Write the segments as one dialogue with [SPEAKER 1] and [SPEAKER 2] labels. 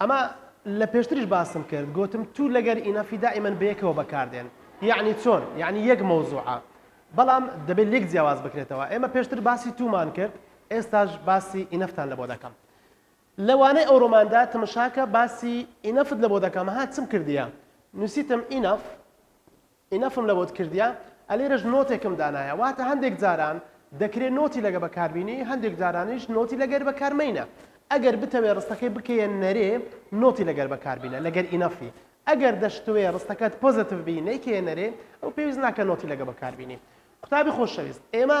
[SPEAKER 1] ئەمە لە پێشتریش باسم کرد گۆتم تو لەگەر ئینەفی دائیمەن بەیەکەوە بەکاردێن یەعنی چۆن یەعنی یەک مەوزوعە بەڵام دەبێت لێک جیاواز بکرێتەوە ئێمە پێشتر باسی تومان کرد ئێستاش باسی ئینەفتان لەبۆ دەکەم لە وانەی ئەوڕۆماندا تمشاکە باسی ئینەفت لەبۆ دەکەم ها چم کردیە نووسیتم ئینەف ئینەفم لەبۆت کردیە ئەلێرەش نۆتێکم دانایە واتە هەندێک جاران دەکرێ نۆتی لەگە بەکاربینی هەندێک جارانیش نۆتی لەگەر بەکارمەینە ئەگەر بتەوێ ڕستەکەی بکەیە نەرێ نۆتی لەگەر بەکاربینە لەگەر ئینەفی ئەگەر دەشتوێ ڕستەکەت پۆزەتڤ بی نەیکەیە نەرێ ئەو پێویست ناکە نۆتی لەگە بەکاربینی قوتابی خۆشەویست ئێمە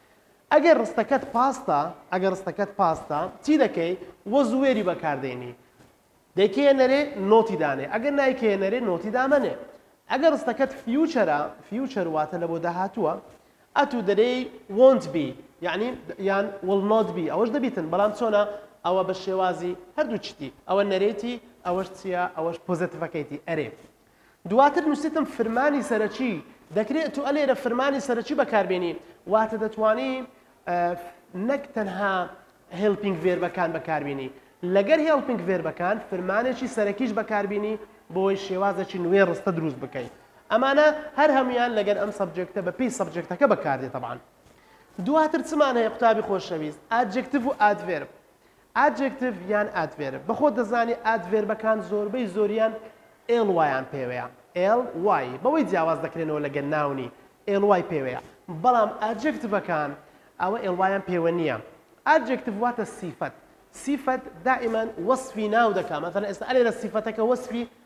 [SPEAKER 1] ئەگەر ڕستەکەت پاستە ئەگەر ڕستەکەت پاستە چی دەکەی وەز و وێری بەکاردێنی دەیکەیە نەرێ نۆتی دانێ ئەگەر نایکەیە نەرێ نۆتی دامەنێ ئەگەر ڕستەکەت فیوچەرە فیوچەر واتە لە بۆ داهاتووە ئەتو دەرێی won't be یعنی یان will not be ئەوەش دەبیتن بەڵام چۆنە ئەوە بە شێوازی هەردوو چتی ئەوە نەرێتی ئەوەش چییە ئەوەش پۆزەتیڤەکەیتی ئەرێ دواتر نوسیتم فرمانی سەرەکی دەکرێ تو ئەلێرە فرمانی سەرەکی بەکاربێنی واتە دەتوانی نەک تەنها هێلپینگ ڤێربەکان بەکاربینی لەگەر هێلپینگ ڤێربەکان فرمانێکی سەرەکیش بەکاربینی بۆی شێوازێکی نوێ ڕستە دروست بکەیت ئەمانە هەر هەمویان لەگەر ئەم سەبجێکتە بە پێی سەبجێکتەکە بەکاردێت تەبان دواتر چمان هەیە قوتابی خۆشەویست ئاجکتف و ئادڤێرب ئادجێکتیڤ یان ئادڤێرب بە خۆت دەزانی ئادڤێربەکان زۆربەی زۆریان ly یان پێوەیە ly بەوەی جیاواز دەکرێنەوە لەگەل ناونی ly پێوەیە بەڵام ئادجێکتڤەکان ئەوە ly یان پێوە نییە ئادجێکتیڤ واتە سیفەت سیفەت دائیمەن وەسفی ناو دەکا مەسەلەن ئێستا ئەلێرە سیفەتەکە وەسفی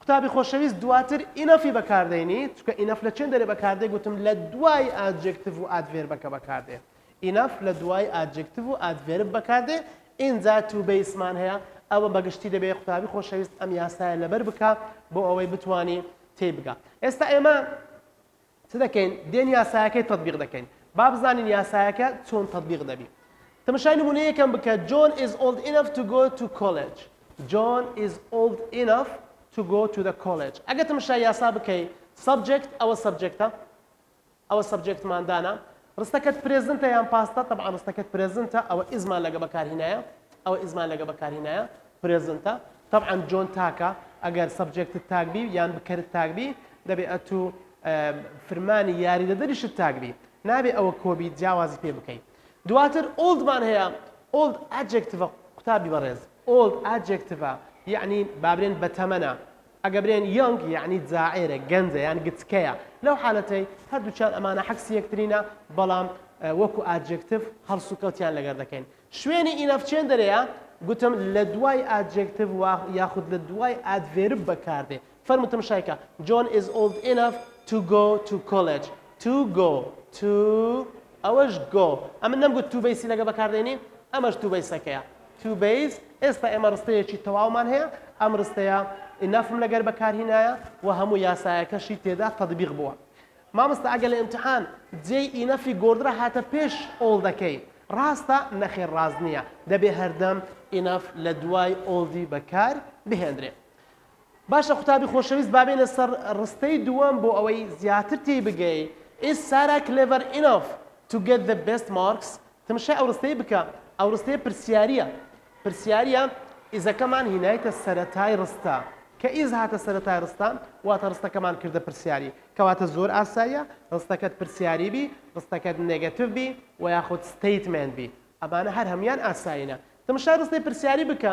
[SPEAKER 1] قوتابی خۆشەویست دواتر ئینەفی بەکاردەینی چونکە ئینەف لە چێندەرێ بەکاردێ گوتم لە دوای ئادجێکتڤ و ئادڤێربەکە بەکاردێ ئینەف لە دوای ئادجێکتڤ و ئادڤێرب بەکاردێ ئینجا تو بەیسمان هەیە ئەوە بەگشتی دەبێ قوتابی خۆشەویست ئەم یاسایە لەبەر بکا بۆ ئەوەی بتوانی تێی بگا ئێستا ئێمە چ دەکەین دێن یاسایەکەی تەتبیق دەکەین با بزانین یاسایەکە چۆن تەتبیق دەبی تمشای نمونە یەکەم بکە John is old enough to go to college John is old enough to go to the college ئەگە تمشای یاسا بکەی subject ئەوە subjectە ئەوە سەبجێکتمان دانا ڕستەکەت پرێزنتە یان پاستە؟ تەبعەن ڕستەکەت پرێزنتە، ئەوە ئیزمان لەگە بەکارهینایە، ئەوە ئیزمان لەگە بەکارهینایە، پرێزنتە. تەبعەن جۆن تاکە، ئەگەر سەبجێکتت تاک بی یان بکەرت تاک بی، دەبێ ئەتو فرمانی یاریدەدەریشت تاک بی. نابێ ئەوە کۆ بی جیاوازی پێ بکەی. دواتر ئۆڵد مان هەیە، ئۆڵد ئادجێکتڤە قوتابی بەڕێز، ئۆڵد ئادجێکتڤە یانی با برێن بەتەمەنە، ئەگە برێن یۆنگ یەعنی جاعێرە، گەنجە یان گچکەیە، لەو حالەتەی هەردووکیان ئەمانە حەکسی یەکترینە بەڵام وەکو ئادجێکتڤ هەڵسوکەوتیان لەگەر دەکەین. شوێنی ئینەف چێن دەرێیە؟ گوتم لەدوای ئادجێکتڤ وا یاخود لەدوای ئادڤێرب بەکاردێ. فەرموو تمشایکە، John is old enough to go to college. To go. To ئەوەش go. ئەمن نەمگوت to بەیسی لەگە بەکاردێنی؟ ئەمەش to بەیسەکەیە. Cubase، ئێستا ئێمە ڕستەیەکی تەواومان هەیە، ئەم ڕستەیە Enough م لەگەر بەکارهینایە و هەموو یاسایەکەشی تێدا تەتبیق بووە. مامۆستا ئەگەر لە ئیمتیحان جێی Enough ی گۆردرا هاتە پێش All دەکەی ڕاستە؟ نەخێر ڕاست نییە، دەبێ هەردەم Enough لە دوای All ی بەکار بهێندرێ. باشە قوتابی خۆشەویست با بێینە سەر ڕستەی دووەم بۆ ئەوەی زیاتر تێی بگەی Is Sara clever enough to get the best marks؟ تمشای ئەو ڕستەی بکە ئەو ڕستەیە پرسیاریە پرسیاریە ئیزەکەمان هینایتە سەرەتای ڕستە کە ئیز هاتە سەرەتای ڕستە واتە ڕستەکەمان کردە پرسیاری کەواتە زۆر ئاساییە ڕستەکەت پرسیاری بی ڕستەکەت نێگەتیڤ بی و یاخود ستەیتمێنت بی ئەمانە هەر هەموان ئاسایینە تمشای ڕستەی پرسیاری بکە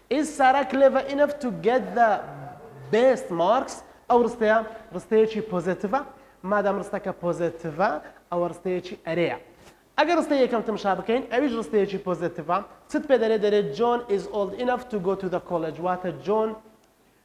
[SPEAKER 1] Is Sara clever enough to get the best marks ئەو ڕستەیە ڕستەیەکی پۆزێتڤە مادام ڕستەکە پۆزێتڤە ئەوە ڕستەیەکی ئەرێیە ئەگەر ڕستەی یەکەم تمشا بکەین ئەویش ڕستەیەکی پۆزێتڤە چت پێ دەرێ دەرێ John is old enough to go to the college واتە جۆن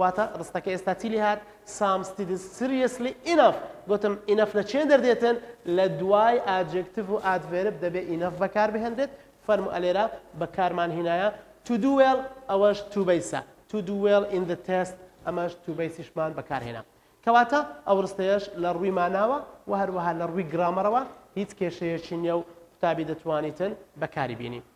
[SPEAKER 1] واتە ڕستەکە ئێستا چی لێهات سام ستیدز سریەسلی ئینەف گوتم ئینەف لە چێن دەردێتن لە دوای ئاجێکتیڤ و ئادڤێرب دەبێ ئینەف بەکار بهێنرێت فەرمو ئەلێرا بەکارمان هینایە تو دو وێڵ ئەوەش تو بەیسە تو دو وێڵ ئین دە تێست ئەمەش تو بەیسیشمان بەکارهێنا کەواتە ئەو ڕستەیەش لە ڕووی ماناوە و هەروەها لە ڕووی گرامەرەوە هیچ کێشەیەکی نیە و قوتابی دەتوانیتن بەکاری بینی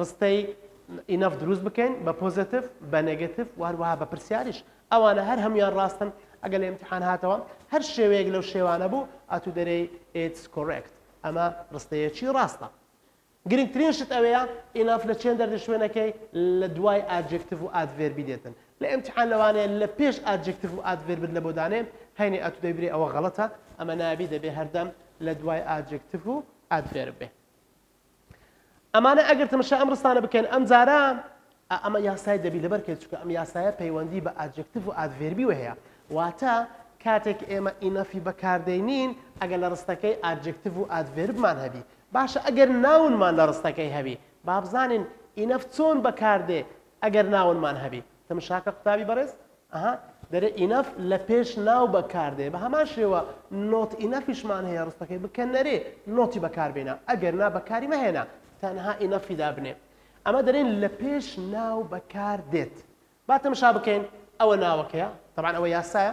[SPEAKER 1] ڕستەی، Enough، دروست بکەین بە پۆزەتف، بە نێگەتف و هەروەها بە پرسیاریش. ئەوانە هەر هەموویان ڕاستن. ئەگەر لە ئیمتیحان هاتەوە هەر شێوەیەک لەو شێوانە بوو، ئەتوو دەرێی، It's correct، ئەمە ڕستەیەکی ڕاستە. گرنگترین شت ئەوەیە، Enough، لە چەندە لە شوێنەکەی لە دوای ئادجێکتف و ئادڤێربی دێتن. لە ئیمتیحان لەوانەیە لە پێش ئادجێکتف و ئادڤێربت لەبۆ دانێ، هەینی ئەتوو دەی بری ئەوە غەڵەتە، ئەمە نابی دەبێ هەردەم لە دوای ئادجێکتف و ئادڤێرب بێ. ئەمانە ئەگەر تەمەشا ئەم ڕستانە بکەن ئەم جارە ئەمە یاسای دەبی لەبەر کرد چکە ئەم یاسایە پەیوەندی بە ئاجکتف و ئادڤێربی وهەیە واتە کاتێک ئێمە ئینەفی بەکاردەینین ئەگەر لە ڕستەکەی ئاجکتف و ئادڤێربمان هەبی باشە ئەگەر ناونمان لە ڕستەکەی هەبی بابزانین ئینەف چۆن بەکاردێ ئەگەر ناونمان هەبی تمشاکە قوتابی بەڕێز، ئەها، دەرێ ئینەف لە پێش ناو بە کار دێ، بە هەمان شێوە نۆت ئینەفیشمان هەیە ڕستەکەی بکە نەرێ نۆتی بە کار بێنە، ئەگەر نا بە کاری مەهێنە، تەنها ئینەفی دابنێ. ئەمە دەرێن لە پێش ناو بە کار دێت. با تمشا بکەین، ئەوە ناوەکەیە، تەبعەن ئەوە یاسایە،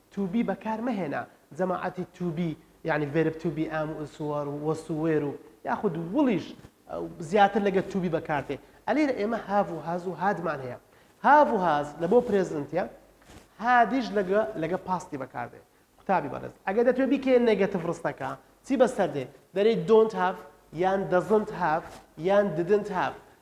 [SPEAKER 1] to be بەکار مەهێنە، جەماعەتی to be یانی ڤێرب to be am و is و are و was و were و یاخود will یش زیاتر لەگەر to be بەکار دێ. ئە لێرە ئێمە have و has و had مان هەیە. have و has لە بۆ پرێزنتە، had یش لەگە لەگە پاستی بەکار دێ. قوتابی بەڕێز ئەگەر دەتوێ بیکەیە نێگەتڤ ڕستەکە چی بەسەر دێ؟ دەرێی don't have یان doesn't have یان didn't have.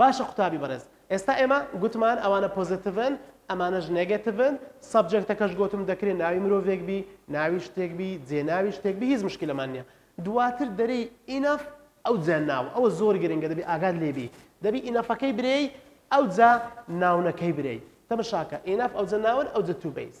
[SPEAKER 1] باشە قوتابی بەڕێز ئێستا ئێمە گوتمان ئەوانە پۆزەتڤن ئەمانەش نێگەتڤن سەبجێکتەکەش گۆتم دەکرێ ناوی مرۆڤێک بی ناوی شتێک بی جێ ناوی شتێک بی هیچ مشکلەمان نیە دواتر دەرێی ئینەف ئەوجا ناو ئەوە زۆر گرنگە دەبی ئاگات لێ بی دەبی ئینەفەکەی برێی ئەوجا ناونەکەی برێی تەمەشاکە ئینەف ئەوجە ناون ئەوجە تو بەیس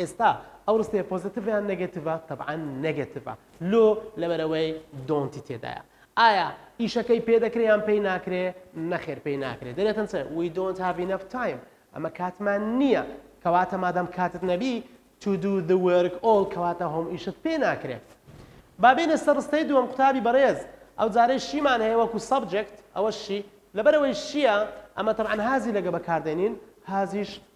[SPEAKER 1] ئێستا ئەو ڕستەیە پۆزەتیڤ یان نەگەتیڤە تەبعەن نەگەتیڤە لۆ لەبەرەوەی دۆنتی تێدایە ئایا ئیشەکەی پێ دەکرێ یان پێی ناکرێ نەخێر پێی ناکرێت دەێتن چێ وی دۆنت هاوی نەف تایم ئەمە کاتمان نییە کەواتە مادەم کاتت نەبی to do the work all کەواتە هۆم ئیشت پێ ناکرێت بابێنە سەر ڕستەی دووەم قوتابی بەڕێز ئەو جارەی شیمان هەیە وەکو سەبجێکت ئەوە شی لەبەرەوەی شیە ئەمە تەعاان هازی لەگە بەکاردێنین هازیش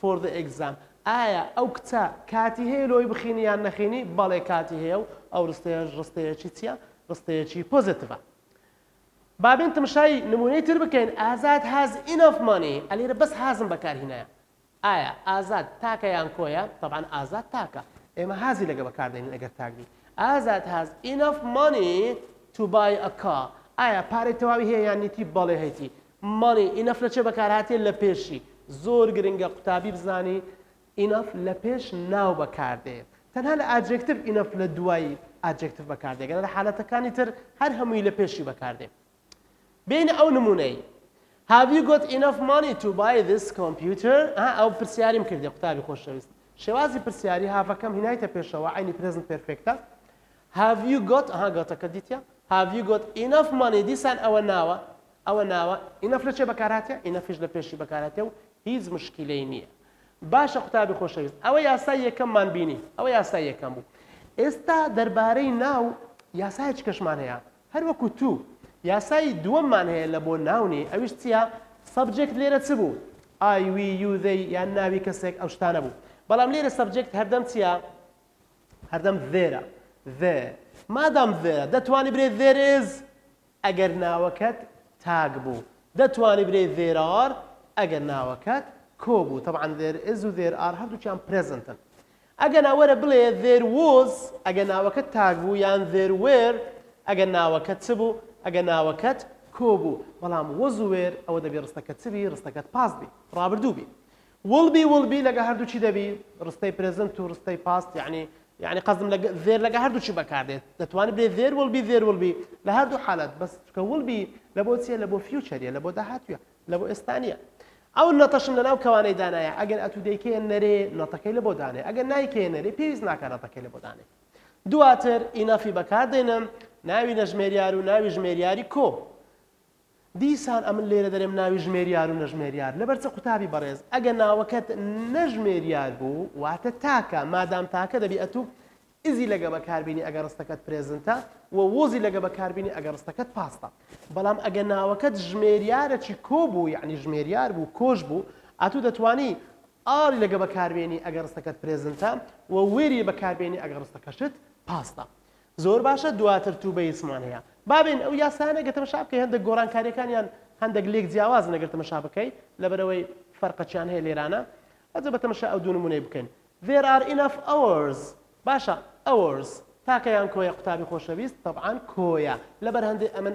[SPEAKER 1] For the exam، ئایا ئەو کچە کاتی هەیە لۆی بخینی یان نەخینی؟ بەڵێ کاتی هەیە و ئەو ڕستەیەش ڕستەیەکی چیە؟ ڕستەیەکی پۆزەتڤە. با بێن تمشای نمونەی تر بکەین، ئازاد has enough money، ە لێرە بەس has م بەکار هینایە. ئایا ئازاد تاکە یان کۆیە؟ تەبعەن ئازاد تاکە. ئێمە has ی لەگە بەکار دەینین ئەگەر تاک بی. ئازاد has enough money to buy a car، ئایا پارەی تەواوی هەیە یان نیتی؟ بەڵێ هەیتی. Money Enough لە چێ بەکارهاتێ لە پێشی؟ زۆر گرنگە قوتابی بزانی Enough لە پێش ناو بەکاردێ تەنها لە ئاجێکتڤ Enough لە دوای ئاجێکتڤ بەکاردێ گەنا لە حالەتەکانی تر هەر هەمووی لە پێشی بەکاردێ بێینە ئەو نموونەی Have you got enough money to buy this computer؟ ها ئەو پرسیاریم کردێ قوتابی خۆشەویست شێوازی پرسیاری هاڤەکەم هینایتە پێشەوە عینی پرێزنت پێرفێکتە Have you got ها گۆتەکە دیتە Have you got enough money دیسان ئەوە ناوە ئەوە ناوە ئینەف لە چێ بەکارهاتە ئینەفیش لە پێشی بەکارهاتە و هیچ مشکیلەی نییە باشە قوتابی خۆشەویست ئەوە یاسای یەکەممان بینی ئەوە یاسای یەکەم بوو ئێستا دەربارەی ناو یاسای چکەشمان هەیە هەر وەکو تو یاسای دووەممان هەیە لە بۆ ناونی ئەویش چییە سەبجێکت لێرە چ بوو ئای وی یوزەی یان ناوی کەسێک ئەو شتانە بوو بەڵام لێرە سەبجێکت هەردەم چییە هەردەم ذێرە ذێ مادام ذێرە دەتوانی برێ ذێرێز ئەگەر ناوەکەت تاگ بوو دەتوانی بلێی there are ئەگەر ناوەکەت کۆ بوو تەبعەن there is و there are هەردووکیان پرێزنتن ئەگەنا وەرە بلێ there was ئەگەر ناوەکەت تاگ بوو یان there were ئەگەر ناوەکەت چ بوو ئەگەر ناوەکەت کۆ بوو بەڵام was و were ئەوە دەبێ ڕستەکە چ بی ڕستەکەت past بی ڕابردوو بی وڵ بی وڵ بی لەگە هەردوو چی دەبی ڕستەی پرێزنت و ڕستەی پاست یعنی یعنی قەزم لە زێر لەگە هەردوو چی بەکاردێت دەتوانێت بێ زێر وڵ بی زێر وڵ بی لە هەردوو حالەت بەس چکە وڵ بی لە بۆ چیە لە بۆ فیوچەریە لە بۆ داهاتوە لە بۆ ئێستانە ئەو نەتەشم لەناو کەوانەی دانایە ئەگەر ئەتو دەیکەیە نەرێ نەتەکەی لە بۆ دانێ ئەگەر نایکەیە نەرێ پێویست ناکە نەتەکەی لە بۆ دانێ دواتر ئینەفی بەکاردێنم ناوی نەژمێریار و ناوی ژمێریاری کۆ دیسان ئەمن لێرە دەرێم ناوی ژمێریار و نەژمێریار لەبەر چ قوتابی بەڕێز ئەگە ناوەکەت نەژمێریار بوو واتە تاکە مادام تاکە دەبی ئەتو ئزی لەگە بەکاربینی ئەگە ڕستەکەت پرێزنتە و وۆزی لەگە بەکاربینی ئەگە ڕستەکەت پاستە بەڵام ئەگە ناوەکەت ژمێریارەکی کۆ بوو یعنی ژمێریار بوو کۆش بوو ئەتو دەتوانی ئاڵی لەگە بەکاربێنی ئەگە ڕستەکەت پرێزنتە و وێری بەکاربێنی ئەگە ڕستەکەشت پاستە زۆر باشە دواتر توو بەیس مان هەیە بابێن ئەو یاسایانە گە تەمەشا بکەی هەندەک گۆران کاریەکانیان هەندەک لێک جیاوازن ئەگەر تەمەشا بکەی لەبەرەوەی فەرقەچیان هەیە لێرانە ئەجە بە تەمەشا ئەو دوو نمونەی بکەین there are enough hours باشە hours تاکە یان کۆیە قوتابی خۆشەویست طبعا کۆیە لەبەر هەندێ ئەمن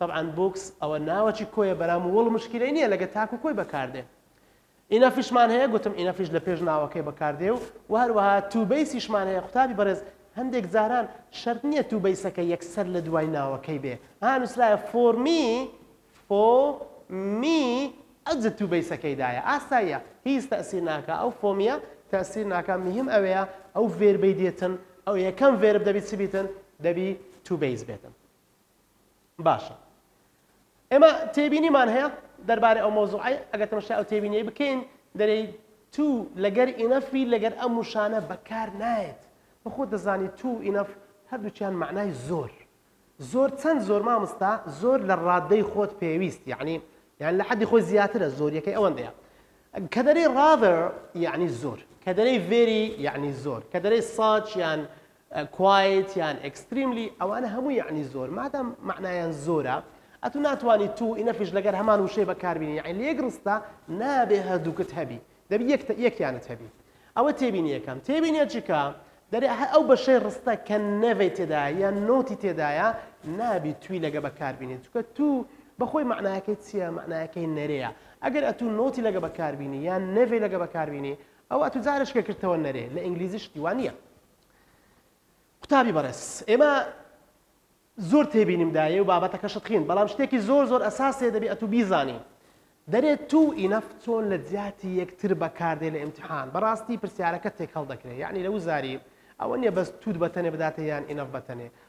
[SPEAKER 1] تەبعەن بوکس ئەوە ناوەکی کۆیە برام ووڵ مشکیلەی نیە لەگە تاک و کۆی بەکاردێ ئینەفیشمان هەیە گوتم ئینەفیش لە پێش ناوەکەی بەکاردێ و و هەروەها تو بەیسیشمان هەیە قوتابی بەڕێز هەندێک جاران شەرت نیە تو بەیسەکە یەکسەر لە دوای ناوەکەی بێ ها نووسرایە فۆرمی فۆ می ئەجە تو بەیسەکەی دایە ئاساییە هیچ تەسیر ناکە ئەو فۆمیە تەسیر ناکە مهم ئەوەیە ئەو ڤێربەی دێتن ئەو یەکەم ڤێرب دەبی چ بیتن دەبی تو بەیس بێتن باشە ئێمە تێبینیمان هەیە دەربارەی ئەو مەوزوعی ئەگەر تەمەشای ئەو تێبینیەی بکەین دەرێی تو لەگەر ئینەفی لەگەر ئەم وشانە بەکار نایەت بەخۆ دەزانی تو ئینەف هەردووچیان معنای زۆر زۆر چەند زۆر مامستا زۆر لە ڕادەی خۆت پێویست یعنی یان لە حەدی خۆی زیاترە زۆریەکەی ئەوەندەیە کە دەری ڕاڤر یعنی زۆر کە دەری ڤێری یعنی زۆر کە دەری ساچ یان کوایت یان ئێکستریملی ئەوانە هەموو یەعنی زۆر مادام مەعنایان زۆرە ئەتو ناتوانی تو ئینەفیش لەگەر هەمان وشەی بەکاربینی یەعنی لە یەک ڕستە نابێ هەردووکت هەبی دەبی یەک یەکیانت هەبی ئەوە تێبینی یەکەم تێبینیە چیکە دەرێ هەر ئەو بەشەی ڕستە کە نەڤەی تێدایە یان نۆتی تێدایە نابی توی لەگە بەکاربینی چکە تو بەخۆی مەعنایەکەی چییە مەعنایەکەی نەرەیە ئەگەر ئەتو نۆتی لەگە بەکاربینی یان نەڤەی لەگە بەکاربینی ئەو ئەتو جارە شکە کردتەوە نەرێ لە ئینگلیزی شتی وان نییە قوتابی بەڕێز ئێمە زۆر تێبینیم دایە و بابەتەکەشت خین بەڵام شتێکی زۆر زۆر ئەساسێ دەبێ ئەتو بیزانی دەرێت تو ئینەف چۆن لە جیاتی یەکتر بەکاردێ لە ئیمتحان بەڕاستی پرسیارەکە تێکەڵ دەکرێت یعنی لە وزاری ئەوە نیە بەس توود بەتەنێ بداتە یان ئینەف بەتەنێ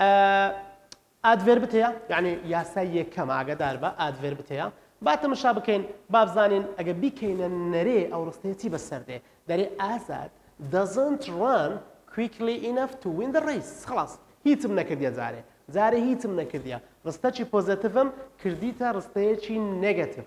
[SPEAKER 1] ئە ئادڤێربت هەیە یەعنی یاسای یەکەم ئاگەداربە ئادڤێربت هەیە با تەمەشا بکەین با بزانین ئەگە بیکەینە نەرێ ئەو ڕستەیە چی بەسەر دێ دەرێ ئازاد doesn't run quickly enough to win the race خلاص هیچم نەکردیە جارێ جارێ هیچم نەکردیە ڕستەکی پۆزەتڤم کردیتە ڕستەیەکی نێگەتڤ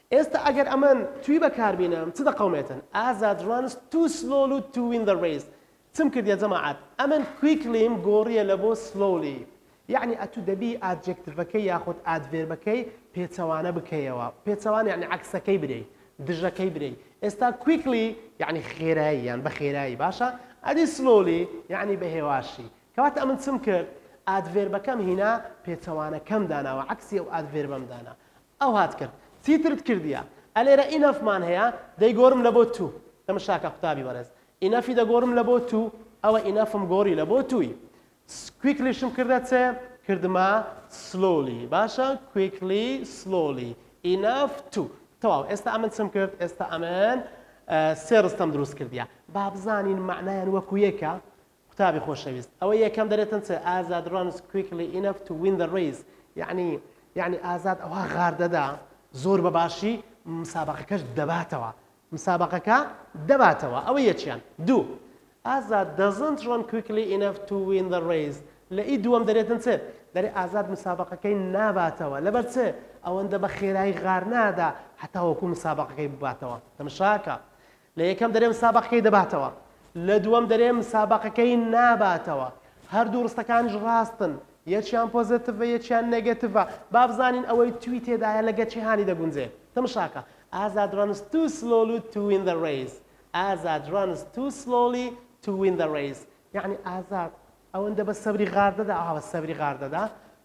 [SPEAKER 1] ئێستا ئەگەر ئەمن توی بەکار بینم چ دەقەومێتن ئازاد ڕانس تو سلۆلو تو وین دە ڕیس چم کردیە جەماعەت ئەمن کویکلیم گۆڕیە لە بۆ سلۆلی یەعنی ئەتو دەبی ئادجێکتڤەکەی یاخود ئادڤێربەکەی پێچەوانە بکەیەوە پێچەوانە یەعنی عەکسەکەی برێی دژەکەی برێی ئێستا کویکلی یەعنی خێرایی یان بە خێرایی باشە ئەدی سلۆلی یەعنی بە هێواشی کەواتە ئەمن چم کرد ئادڤێربەکەم هینا پێچەوانەکەم داناوە عەکسی ئەو ئادڤێربەم دانا ئەو هات کرد چیترت کردیە ئەلێرە ئینەف مان هەیە دەیگۆرم لە بۆ توو دەم شاکە قوتابی بەڕێز ئینەفی دەگۆرم لە بۆ توو ئەوە ئینەفم گۆری لە بۆ تووی کویکلیشم کردە چ کردمە سلۆلی باشە کویکلی سلۆلی ئینەف توو تەواو ئێستا ئەمن چم کرد ئێستا ئەمن سێ ڕستەم دروست کردیە با بزانین معنایان وەکو یەکە قوتابی خۆشەویست ئەوە یەکەم دەرێتن چ ئازاد رانس کویکلی ئینەف تو وین دە ریس یەعنی یەعنی ئازاد ئەوە غار دەدا زۆر بە باشی مسابەقەکەش دەباتەوە مسابەقەکە دەباتەوە ئەوە یەکیان دوو ئازاد دەزنت ران کویکلی ئینەف تو وین دە ریس لە ئی دووەم دەرێتن چ دەرێ ئازاد مسابەقەکەی ناباتەوە لەبەر چ ئەوەندە بە خێرایی غار نادا هەتاوەکو مسابەقەکەی بباتەوە تەمشاکە لە یەکەم دەرێ مسابەقەکەی دەباتەوە، لە دووەم دەرێ مسابەقەکەی ناباتەوە. هەردوو ڕستەکانیش ڕاستن، یەکیان پۆزەتڤە یەکیان نێگەتڤە. با بزانین ئەوەی توی تێدایە لەگەر چی هانی دەگونجێ. تمشاکە، Azad runs too slowly to win the race. Azad runs too slowly to win the race. یەعنی ئازاد ئەوەندە بە سەبری غاردەدا، ئاوا بە سەبری غاردەدا.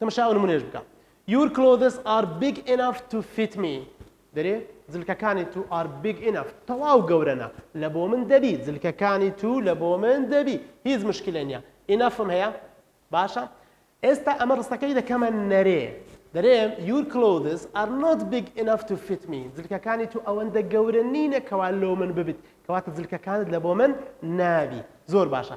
[SPEAKER 1] تەمەشا ئەو نمونەش بکە Your clothes are big enough to fit me دەرێ جلکەکانی تو are big enough تەواو گەورەنە لە بۆ من دەبی جلکەکانی تو لە بۆ من دەبی هیچ مشکلە نیە enough هەیە باشە ئێستا ئەمە ڕستەکەی دەکەمە نەرێ دەرێم یور کلۆدس ئەر نۆت بیگ ئیناف تو فیت می جلکەکانی تو ئەوەندە گەورە نینە کەوا لۆ من ببیت کەواتە جلکەکانت لە بۆ من نابی زۆر باشە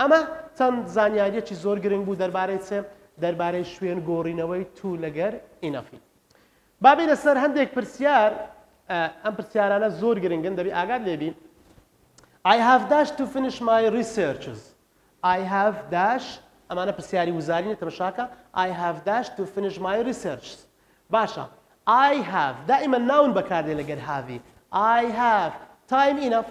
[SPEAKER 1] ئەمە چەند زانیاریەکی زۆر گرنگ بوو دەربارەی چ؟ دەربارەی شوێن گۆڕینەوەی تو لەگەر ئینەفی. با بینە سەر هەندێک پرسیار ئەم پرسیارانە زۆر گرنگن دەبی ئاگات لێبی I have dash to finish my researches I have dash ئەمانە پرسیاری وزارینە تەمەشاکە I have dash to finish my researches باشە I have دائما ناون بەکاردێ لەگەر هاوی I have time enough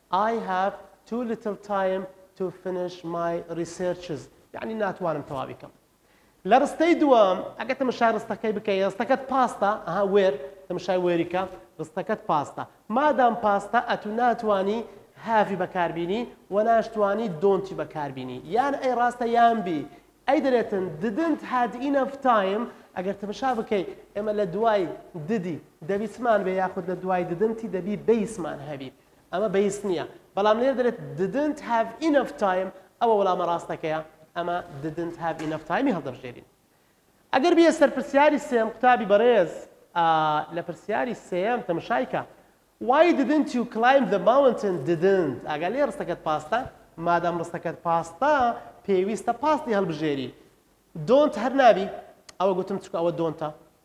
[SPEAKER 1] I have too little time to finish my researches یەعنی ناتوانم تەواوی کەم لە ڕستەی دووەم ئەگە تەمەشای ڕستەکەی بکەی ڕستەکەت پاستە ئەها وێر تەمەشای وێریکە ڕستەکەت پاستە مادام پاستە ئەتو ناتوانی هاڤی بەکاربینی و ناشتوانی دۆنتی بەکاربینی یان ئەی ڕاستە یان بی ئەی دەرێتن ددنت هاد ئینەف تایم ئەگەر تەمەشا بکەی ئێمە لە دوای ددی دەبیسمان بێ یاخود لە دوای ددنتی دەبی بیسمان هەبی ئەمە بەیس نییە، بەڵام لێرە دەلێت didn't have enough time ئەوە وەڵامە ڕاستەکەیە، ئەمە didn't have enough time ی هەڵدەبژێرین. ئەگەر بیە سەر پرسیاری سێم قوتابی بەڕێز لە پرسیاری سێم تەمشایکە Why didn't you climb the mountain didn't ئاگا لێ ڕستەکەت پاستە مادام ڕستەکەت پاستە پێویستە پاستی هەڵبژێری don't هەر نابی ئەوە گوتم چکە ئەوە دۆنتە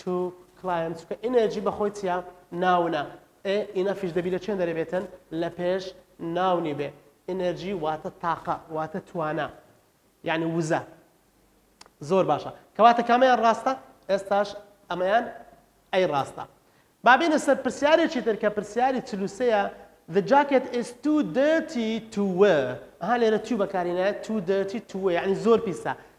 [SPEAKER 1] تو کلایەن چونکە ئینێرجی بە خۆی چیە ناونە ئێ ئینەفیش دەبی لە چێن دەرێبێتن لە پێش ناونی بێ ئینێرجی واتە تاقە واتە توانا یعنی وزە زۆر باشە کەواتە کامیان ڕاستە ئێستاش ئەمەیان ئەی ڕاستە بابێنە سەر پرسیارێکی تر کە پرسیاری چلوسەیە The jacket is too dirty to wear ها لێرە تو بەکارینایە too dirty to wear یعنی زۆر پیسە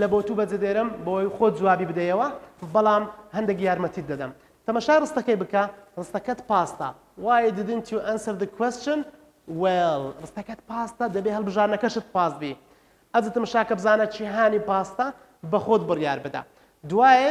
[SPEAKER 1] لە بۆ تو بەجێ دێرم بۆی خۆت جوابی بدەیەوە بەڵام هەندەک یارمەتیت دەدەم تەمەشای ڕستەکەی بکە ڕستەکەت پاستە Why didn't you answer the question well ڕستەکەت پاستە دەبێ هەڵبژاردنەکەشت پاست بی ئەجە تەمەشاکە بزانە چی هانی پاستە بەخۆت بڕیار بدە دوایێ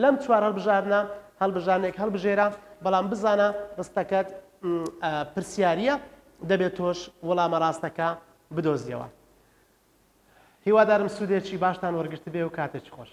[SPEAKER 1] لەم چوار هەڵبژاردنە هەڵبژاردنێک هەڵبژێرە، بەڵام بزانە ڕستەکەت پرسیارییە، دەبێت تۆش وەڵامە ڕاستەکە بدۆزیەوە. هیوادارم سوودێکی باشتان وەرگرتبێ و کاتێکی خۆش.